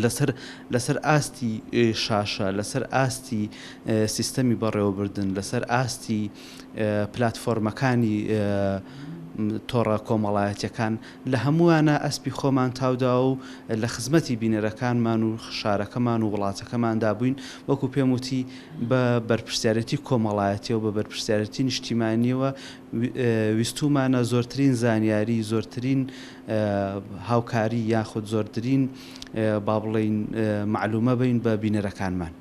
لەسەر لەسەر ئاستی شاشە لەسەر ئاستی سیستەمی بەڕێوەبردن لەسەر ئاستی پلتفۆرمەکانی تۆڕە کۆمەڵایەتەکان لە هەمووانە ئەسپی خۆمان تاوداوە و لە خزمەتی بینەرەکانمان و شارەکەمان و وڵاتەکەماندا بووین، وەکو پێم وتی بە بەرپرسیارێتی کۆمەڵایەتیەوە بە بەرپرسیارێتی نیشتیمانیەوە ویستومانە زۆرترین زانیاری زۆرترین هاوکاری یاخود زۆردرین با بڵێین مەعلومە بین بە بینەرەکانمان.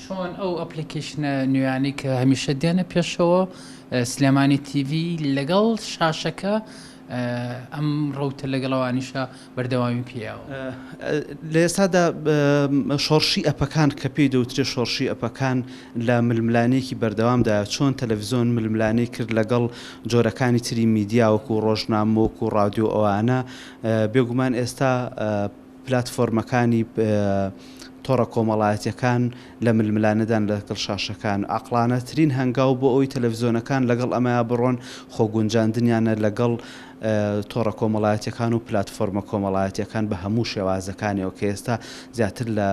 چۆن ئەو ئەپلیکەیشنە نوێیانەی کە هەمیشە دێنە پێشەوە، سلێمانی تیڤی، لەگەڵ شاشەکە ئەم ڕەوتە لەگەڵ ئەوانیشا بەردەوامی پێیاوە. لە ئێستادا شۆڕشی ئەپەکان کە پێی دەوترێت شۆڕشی ئەپەکان لە ململانێکی بەردەوامدایە، چۆن تەلەڤزیۆن ململانێی کرد لەگەڵ جۆرەکانی تری میدیا وەکوو ڕۆژنامە وەکوو ڕادیۆ ئەوانە، بێگومان ئێستا پلاتفۆرمەکانی تۆڕە کۆمەڵایەتیەکان لە ململانێدان لەگەڵ شاشەکان، عەقڵانەترین هەنگاو بۆ ئەوەی تەلەفزیۆنەکان لەگەڵ ئەمەیا بڕۆن خۆگونجاندنیانە لەگەڵ تۆڕە کۆمەڵایەتیەکان و پلاتفۆرمە کۆمەڵایەتیەکان بە هەموو شێوازەکانیەوە کە ئێستا زیاتر لە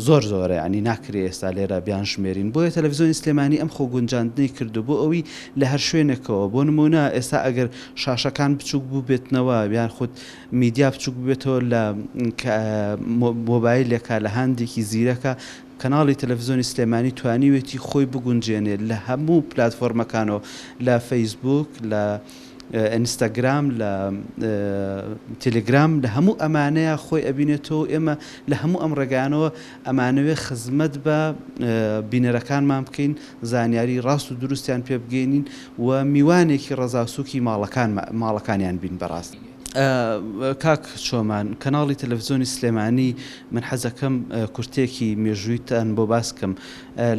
زۆر زۆرە یانی ناکرێ ئێستا لێرە بیانژمێرین بۆیە تەلەفزیۆنی سلێمانی ئەم خۆگونجاندنەی کردو بۆ ئەوی لە هەر شوێنێکەوە بۆ نموونە ئێستا ئەگەر شاشەکان بچووک بووبێتنەوە یان خود میدیا بچووک ببێتەوە لە مۆبایلێکە لە هاندێکی زیرەکە کەناڵی تەلەفزیۆنی سلێمانی توانیوێتی خۆی بگونجێنێ لە هەموو پلاتفۆرمەکانەوە لە فەیسبووک لە ئینستاگرام لە تیلگرام لە هەموو ئەمانەیە خۆی ئەبینێتەوە ئێمە لە هەموو ئەم ڕێگانەوە ئەمانەوێ خزمەت بە بینەرەکانمان بکەین زانیاری ڕاست و دروستیان پێ بگەینین و میوانێکی ڕەزاسووکی ماڵەکان ماڵەکانیان بین بەڕاست. کاک چۆمان کەناڵی تەلەڤزیۆنی سلێمانی من حەزەکەم کورتێکی مێژوویتان بۆ باسکەم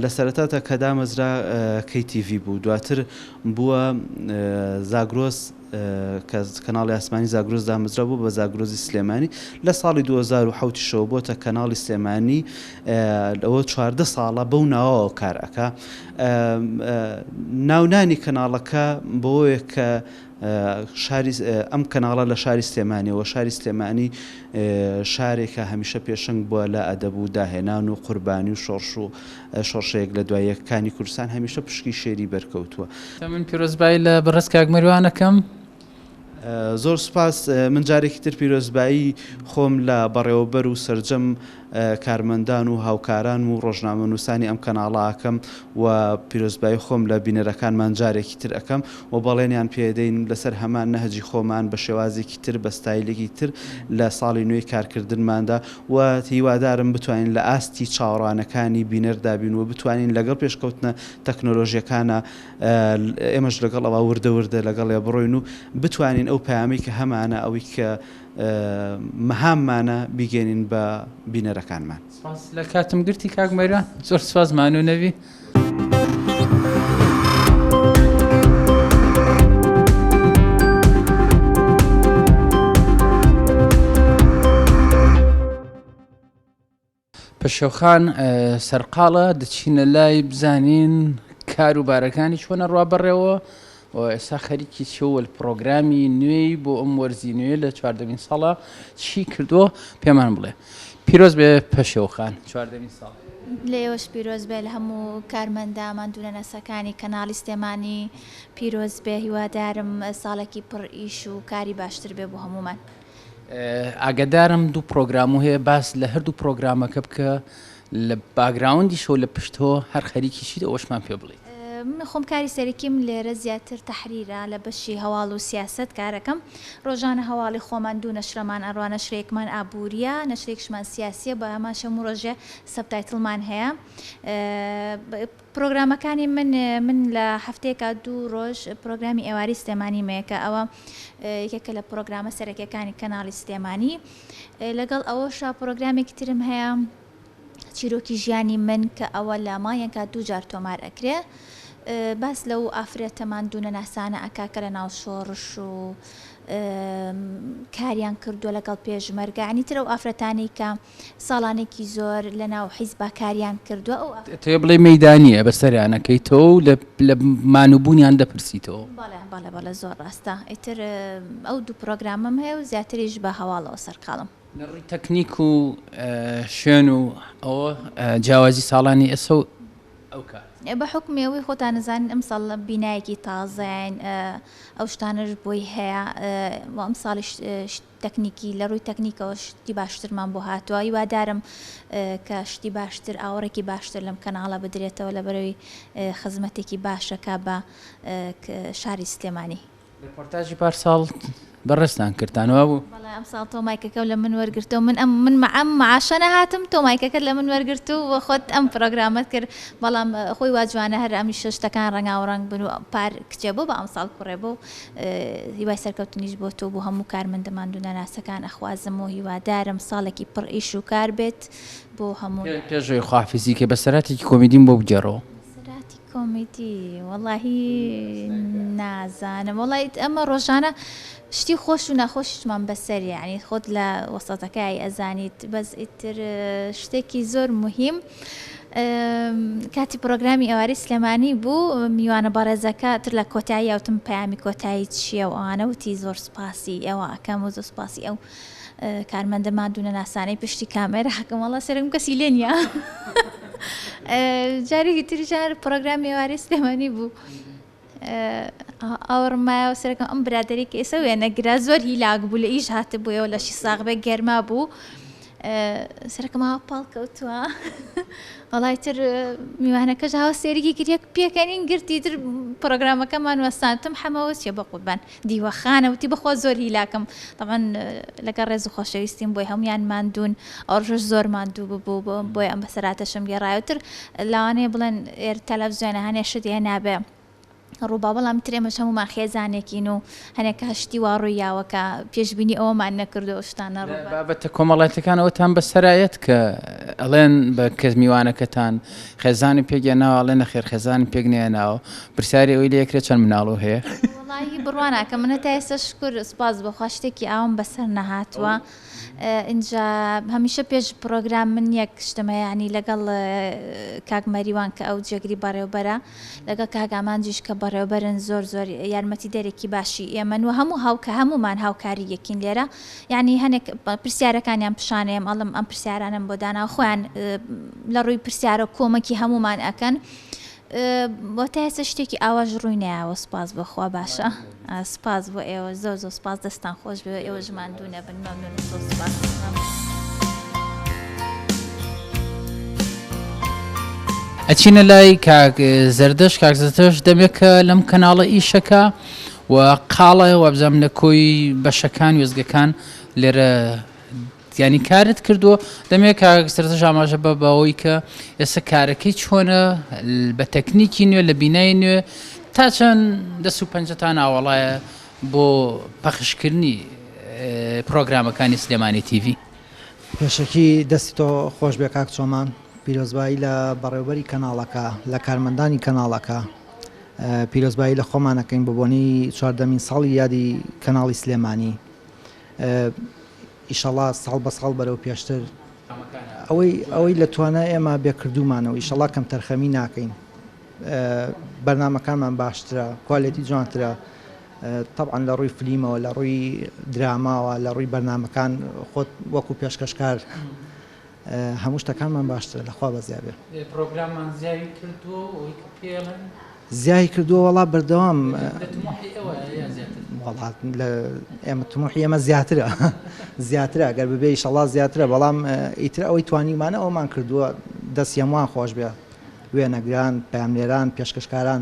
لە سەرەتاتا کە دامەزرا کەی تیڤی بوو دواتر بووە زاگرۆس کە کەناڵی ئاسمانی زاگرۆس دامەزرا بووە بە زاگرۆزی سلێمانی لە ساڵی دوو هەزار و حەوت شەوە بۆتە کەناڵی سلێمانی ئەوە چواردە ساڵە بەو ناوەوە کار ئەکا ناونانی کەناڵەکە بۆیە کە شاری ئەم کەناڵە لە شاری سلێمانیەوە شاری سلێمانی شارێکە هەمیشە پێشنگ بووە لە ئەدەب و داهێنان و قوربانی و شۆڕش و شۆڕشە یەک لە دوای یەک کانی کوردستان هەمیشە پشکی شێری بەرکەوتووە. دەمن پیرۆزبایی لە بەڕێز کاک مەریوان ئەکەم. زۆر سوپاس، من جارێکی تر پیرۆزبایی خۆم لە بەڕێوەبەر و سەرجەم کارمەندان و هاوکارانم و ڕۆژنامەنووسانی ئەم کەناڵە ئەکەم و پیرۆزبایی خۆم لە بینەرەکانمان جارێکی تر ئەکەم و بەڵێنیان پێدەین لەسەر هەمان نەهجی خۆمان بە شێوازێکی تر بە ستایلێکی تر لە ساڵی نوێی کارکردنماندا و هیوادارم بتوانین لە ئاستی چاوەڕوانەکانی بینەردا بین و بتوانین لەگەڵ پێشکەوتنە تەکنۆلۆژیەکانا ئێمەش لەگەڵ ئەوە وردە وردە لەگەڵێ بڕۆین و بتوانین ئەو پەیامەی کە هەمانە ئەوەی کە مەهاممانە بیگەینین بە بینەرەکانمان. سپاس لە کاتم گرتی کاک مەریوان زۆر سپاس ماندوو نەبی. پەشێوخان سەرقاڵە دەچینە لای بزانین کاروبارەکانی چۆنە ڕوا بەڕێەوە و ئێستا خەریکی چیە و پڕۆگرامی نوێی بۆ ئەم وەرزی نوێ لە چواردەمین ساڵا چی کردووە پێمان بڵێ پیرۆز بێ پەشێوخان چواردەمین ساڵ. لە ئێوەش پیرۆز بێ لە هەموو کارمەندە ماندوونەناسەکانی کەناڵی سلێمانی پیرۆز بێ هیوادارم ساڵێکی پڕ ئیش و کاری باشتر بێ بۆ هەموومان. ئاگادارم دوو پرۆگرامو هەیە باس لە هەردوو پرۆگرامەکە بکە لە باگراوندیشەوە لە پشتۆ هەر خەریکی چیت ئەوەشمان پێ بڵێ. من خۆم کاری سەرەکیم لێرە زیاتر تەحریرە لە بەشی هەواڵ و سیاسەت کارەکەم ڕۆژانە هەواڵی خۆمان دوو نەشرەمان ئەڕا نەشرێکمان ئابووریە نەشرێکشمان سیاسیە بەهەمان شەموو ڕۆژێ سەبتایتڵمان هەیە. پرۆگرامەکانی من من لە هەفتەیەکا دوو ڕۆژ پرۆگرامی ئێواری سلێمانیم هەیە کە ئەوە یەکێکە لە پرۆگرامە سەرەکیەکانی کەناڵی سلێمانی لەگەڵ ئەوەشا پرۆگرامێکی ترم هەیە چیرۆکی ژیانی من کە ئەوە لە مایەکە دوو جار تۆمار ئەکرێ باس لەو ئافرەتە ماندوونە ناسانە ئەکا کە لە ناو شۆڕش و کاریان کردووە لەگەڵ پێشمەرگە عنی ترە و ئافرەتانی کە ساڵانێکی زۆر لە ناو حیزبا کاریان کردوە ئەو ئەتەوێ بڵێ مەیدانیە بە سەریان ئەکەیتەوە و لە مان و بوونیان دەپرسیتەوە؟ بەڵێ بەڵێ بەڵێ زۆر ڕاستە ئیتر ئەو دوو پڕۆگرامەم هەیە و زیاتریش بە هەواڵەوە سەرقاڵم. لە ڕووی تەکنیک و شوێن و ئەوە جیاوازی ساڵانی ئێستا و ئەو کات؟ بە حکومی ئەوەی خۆتان نەزانین ئەمساڵ بینایەکی تازەین ئەو شتانەش بۆی هەیە ئەمساڵیش تەکنیکی، لە ڕووی تەکنیکەوە شتی باشترمان بۆ هاتووە، هیوادارم کە شتی باشتر، ئاوڕێکی باشتر لەم کەناڵە بدرێتەوە لەبەرەوەی خزمەتێکی باشە کا بە شاری سلێمانی. ڕێپۆرتاجی پار ساڵ بەڕێزتان کردتان وابوو؟ بەڵێ ئەم ساڵ تۆ مایکەکەو لە من وەرگرتەوە من ئەم من ئەم معاشە نەهاتم تۆ مایکەکەت لە من وەرگرت و خۆت ئەم پرۆگرامەت کرد بەڵام خۆی وا جوانە هەر ئەمیشە شتەکان ڕەنگاوڕەنگ بن و پار کچێ بۆ بە ئەمساڵ کوڕێ بۆ هیوای سەرکەوتنیش بۆ تۆ بۆ هەموو کارمەندە ماندوو نەناسەکان ئەخوازم و هیوادارم ساڵێکی پڕ ئیش و کار بێت بۆ هەموو پێش ئەوەی خواحافیزی کەی بە سەراتێکی کۆمیدیم بۆ بگێڕەوە. سەراتی کۆمیدی وەڵاهی نازانم وەڵاهی ئەمە ڕۆژانە شتی خۆش و ناخۆشیشمان بەسەریە یانی خۆت لە وەسەتەکەی ئەزانیت بەس ئیتر شتێکی زۆر موهیم. کاتی پرۆگرامی ئێوارەی سلێمانی بوو میوانە بەڕێزەکە تر لە کۆتایی ئەوتم پەیامی کۆتایی چییە و ئەوانە وتی زۆر سپاسی ئێوە ئەکەم و زۆر سپاسی ئەو کارمەندە مادوونە ناسانەی پشتی کامێرە حەکەمەڵە سەرم کەسی لێ نیە جارێکی تریژار پرۆگرامی ئێوارەی سلێمانی بوو. ئاوڕم مایەوە سەرەکەم ئەم برادری کە ئێسە وێنەگرە زۆر هیلاک بوو لە ئیش هاتە بووەوە لەشی ساغبێ گەرما بوو سەرکەمە پاڵ کەوتووە وڵی تر میوانەکەش هاوسێرگی کریەک پێکەنین گرتی تر پرۆگرامەکەمان وەستانتم حەمەوە چیە بە قوربان دیوەخانە وتی بەخوا زۆر هیلاکم تەبعەن لەگەڵ ڕێز و خۆشەویستیم بۆی هەموویان ماندوون ئەو ڕۆژەش زۆر ماندوو ببوو بۆ بۆیە ئەم بەسەرهاتەشم گێڕایەوە ئیتر لەوانەیە بڵێن ئێر تەلەفزیۆنە هەنێ شت هەیە نابێ ڕووبا بەڵام تر ئێمەش هەموومان خێزانێکین و هەنێک کە شتی وا ڕووی یاوە کە پێشبینی ئەوەمان نەکردو ئەو شتانە ڕوو بە بابەتە کۆمەڵایەتیەکان ئەوتان بەسەرایەت کە ئەڵێن بە کەس میوانەکەتان خێزانی پێک هێناوە ئەڵێ نەخێر خێزانم پێک نەهێناوە پرسیاری ئەوەی لێ ئەکرێ چەند مناڵو هەیە؟ وەڵاهی بڕوا ناکەم من هەتا ئێستا شکور سوپاس بۆ خوا شتێکی ئاوام بەسەر نەهاتووە ئینجا هەمیشە پێش پڕۆگرام من یەک شتمە یانی لەگەڵ کاک مەریوان کە ئەو جێگری بەڕێوبەرە لەگەڵ کاک ئامانجیش کە بەڕێوبەرن زۆر زۆر یارمەتی دەرێکی باشی ئێمەن و هەموو هاوکە هەمومان هاوکاری یەکین لێرە یعنی هەنێک پرسیارەکانیان پیشانەیەم ئەڵم ئەم پرسیارانم بۆ دانا خۆیان لە ڕووی پرسیارە کۆمەکی هەمومان ئەکەن بۆ تا ئێستا شتێکی ئاواش ڕووی نەیاوە سوپاس بۆ خوا باشە سوپاس بۆ ئێوە زۆر زۆر سوپاس دەستان خۆش بێ ئێوە ژمان دوو نەبن مەمنون زۆر سوپاس. ئەچینە لای کاک زەردەش کاک زەردەش دەمێکە لەم کەناڵە ئیشەکە و قاڵە وابزانام لە کۆی بەشەکان وێزگەکان لێرە یانی کارت کردووە دەمێ کاک سەرتەش ئاماژە بە بەوەی کە ئێستا کارەکەی چۆنە بە تەکنیکی نوێ لە بینای نوێ تا چەند دەست و پەنجەتان ئاوەڵایە بۆ پەخشکردنی پرۆگرامەکانی سلێمانی تیڤی پێشەکی دەستی تۆ خۆش بێ کاک چۆمان پیرۆزبایی لە بەڕێوبەری کەناڵەکە لە کارمەندانی کەناڵەکە پیرۆزبایی لە خۆمانەکەین بۆ بۆنی چواردەمین ساڵی یادی کەناڵی سلێمانی ئیشەڵا ساڵ بە ساڵ بەرەو پێشتر ئەوەی ئەوەی لە توانای ئێمە بێ کردومانەوە ئیشەڵا کەم تەرخەمی ناکەین بەرنمەکانمان باشترە کوالێتی جوانترە طبعاان لە ڕووی فلیمەوە لە ڕووی دراماوە لە ڕووی بەرنمەکان خۆت وەکو پێشکەشکار هەموو شتەکانمان باشترە لە خوا بەزیا بێ. پرۆگراممان زیای کردووە و ئەوەی کە پێڵێن. زیای کردووە وەڵا بەردەوام. لە تموحی ئێوە یا زیاتر؟ وەڵا لە ئێمە تموحی ئێمە زیاترە زیاترە گەر ببێ ئیشەڵا زیاترە بەڵام ئیتر ئەوەی توانیومانە ئەومان کردووە دەستی هەمووان خۆش بێ وێنەگران، پەیامنێران، پێشکەشکاران.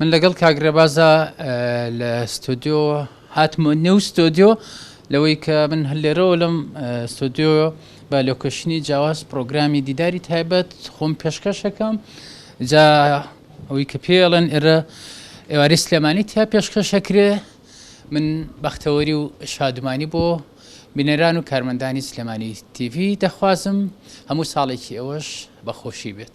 من لەگەڵ کاک رێبازا لە ستۆدیۆ هاتمە نێو ستۆدیۆ لەوەی کە من هەر لێرەوە لەم ستۆدیۆ بە لۆکەشنی جیاواز پرۆگرامی دیداری تایبەت خۆم پێشکەشەکەم جا ئەوەی کە پێڵێن ئێرە ئێواری سلێمانی تیا پێشکەشەکرێ من بەختەوەری و شادمانی بۆ بینەران و کارمەندانی سلێمانی تیڤی دەخوازم هەموو ساڵێکی ئەوەش بەخۆشی بێت.